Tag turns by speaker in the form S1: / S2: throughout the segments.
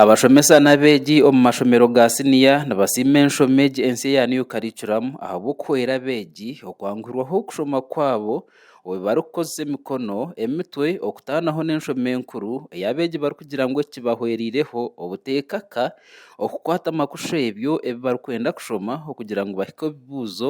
S1: Abashomesa n'abeegi omu mashomero ga siniya nibasiima enshomo egi ensi eya New Curriculum ahabw'okuhwera abeegi okwanguhirwaho okushoma kwabo obu barikukozesa emikono, emitwe okutaanaho n'enshomo enkuru ei abeegi barikugira ngu ekibahwereireho obuteekaka okukwata amakusha ebyo ebi barikwenda kushoma okugira ngu bahike omu bibuuzo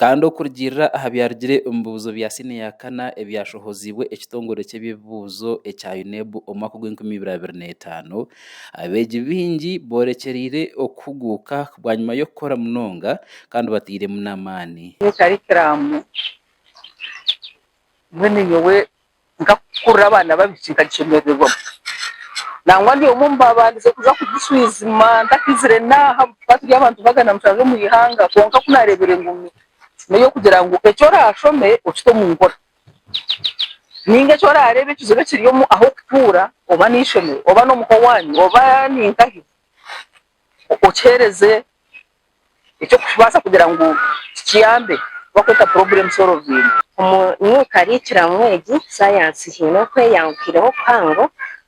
S1: Kandi okurugiirira aha byarugire omu bibuuzo bya siini ya kana ebyashohoziibwe ekitongore ky'eby'ebibuuzo ekya UNEB omu mwaka gw'enkumi ibiri abiri n'etaano, abeegi baingi boorekyereire okuhuguuka bwanyima y'okukora munonga kandi batairemu n'amaani. Omu karikiraamu,
S2: mbwenu nyowe nkakukurira abaana babiri nkagishemerererwamu nangwa ndi omwe omubabandije kuza kugishwijuma ntakizire naaha ahabu tukaba turi abantu magana mushanju omu ihanga kwonka ku narebire ngu neyokugira ngu eki orashome okite omu nkora ninga eki orarebe ekizibu ekiri omu ahokutuura oba n'eishomero oba n'omuka owanyu oba ninkahi okihereze eky'okubaasa kugira ngu kituyambe twakweta purobulemu sorovingi. Omu mwika
S3: ariikiramu egi, saayansi haine okweyanguhireho kuhango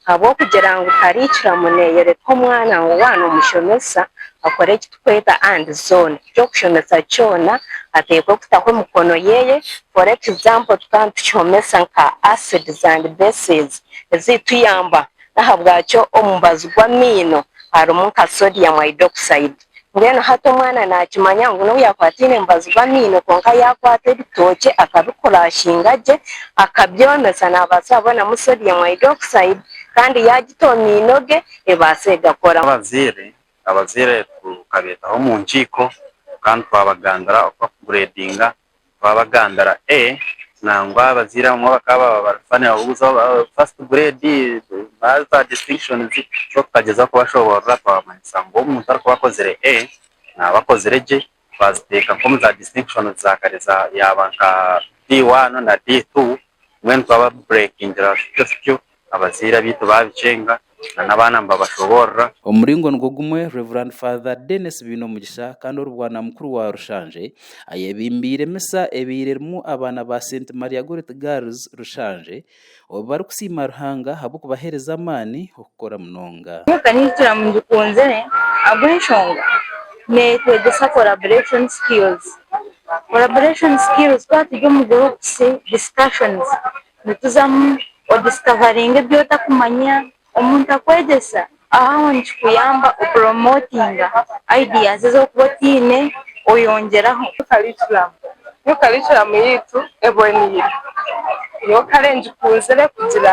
S3: ahabw'okugira ngu tariikiramu neeyoreka omwana ngu waana omushomesa akore eki turikweta andi zoona, eki orikushomesa kyona ateekwe kutaho emikono ye. For example, tukaba nitukihomesa nka asids and bases eziituyamba N'ahabwakyo omu mubazi gw'amaino harimu nka sodium hydroxide. Mbwenu hati omwana naakimanya ngu n'obu yaakwataine omubazi gw'amaino kwonka yaakwata ebitookye akabikurashinga gye akabyomesa naabaasa kubonamu sodium hydroxide kandi yaagita omu maino ge ebaasa egakora. Abazaire,
S4: Abazaire tukabeetaho omu nkiiko kandi twabagambira oku barikugureedinga twabagambira nangwa abazaire abamwe bakaba tukagyezaho kubashoborora twabamanyisa ngu omuntu arikuba akozire A naba akozire gye twaziteeka nkomu za disitinkishoni zakare yaba nka D1 na D2 Mbwenu twaba bu breakingira abashaija tutyo, abazaire abaitu babicenga, na n'abaana nibabashoborora. Omuringo nigwo
S1: gumwe Rev. Father Denis Bainomugisha kandi ori bwana mukuru wa Rushanje, ayebimbiire misa ebaire erimu abaana ba Saint Maria Gorreti Girls Rushanje, obu bari kusiima Ruhanga ahabw'okubahereza amaani, kukora munonga. Nyowe ningira ngu
S5: ngikunzire ahabw'enshonga neetwegyesa collaboration skills. Collaboration skills twaba turi omu groups, discussions, nituzamu odiscoveringa ebi otakumanya, omuntu akwegyesa, aho aho nikikuyamba kupromotinga ideas ezi orikuba otaine oyongyeraho. Curriculum, nyowe
S2: curriculum yaitu eboneire, nyowe kare ngikunzire kugira.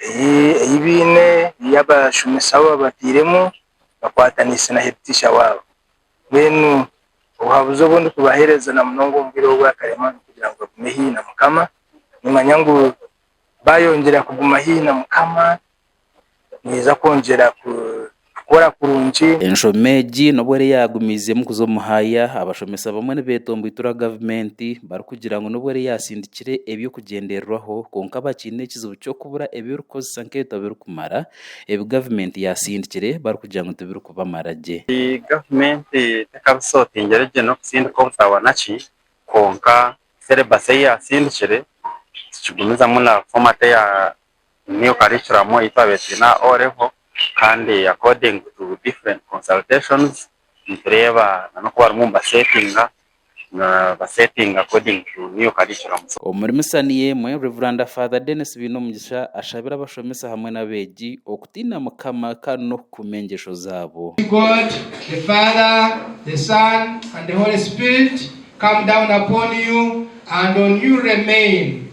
S6: ei baine, ei abashomesa baabo babatairemu bakwataniise na heditisha waabo. Mbwenu obuhabuzi obu ndikubaheereza na munonga omu bwire obu bw'akarema n'okugira ngu bagume haihi na Mukama. Nimanya ngu baayongyera kuguma haihi na Mukama, nibaija kwongyera kukora kurungi. Enshomo egi n'obu
S1: eriyo yaagumiizeemu kuza omu haaya, abashomesa bamwe nibeetomboitura gavumenti barikugira ngu n'obu eriyo yaatsindikire eby'okugyendererwaho, kwonka bakiine ekizibu ky'okubura ebi erikukozesa nk'ebitabo birikumara ebi gavumenti yaatsindikire barikugira ngu tibirikubamara gye. Gavumenti
S4: tekabisotingire gye n'okutsindika obutabo na ki, kwonka selebasi ei yaatsindikire tikigumizamu na fomaati eya new curriculum ei twaabaire twine aha O Level kandi according to different consultations nitureeba n'oku barimu nibaseetinga nibaseetinga according to new curriculum. Omuri misa niyo
S1: emwe, Rev. Father Denis Bainomugisha ashabira abashomesa hamwe n'abeegi okutiina Mukama kandi n'okukuuma engyesho zaabo.
S7: May God
S1: the
S7: Father, the Son and
S1: the Holy
S7: Spirit come down upon you and on you remain.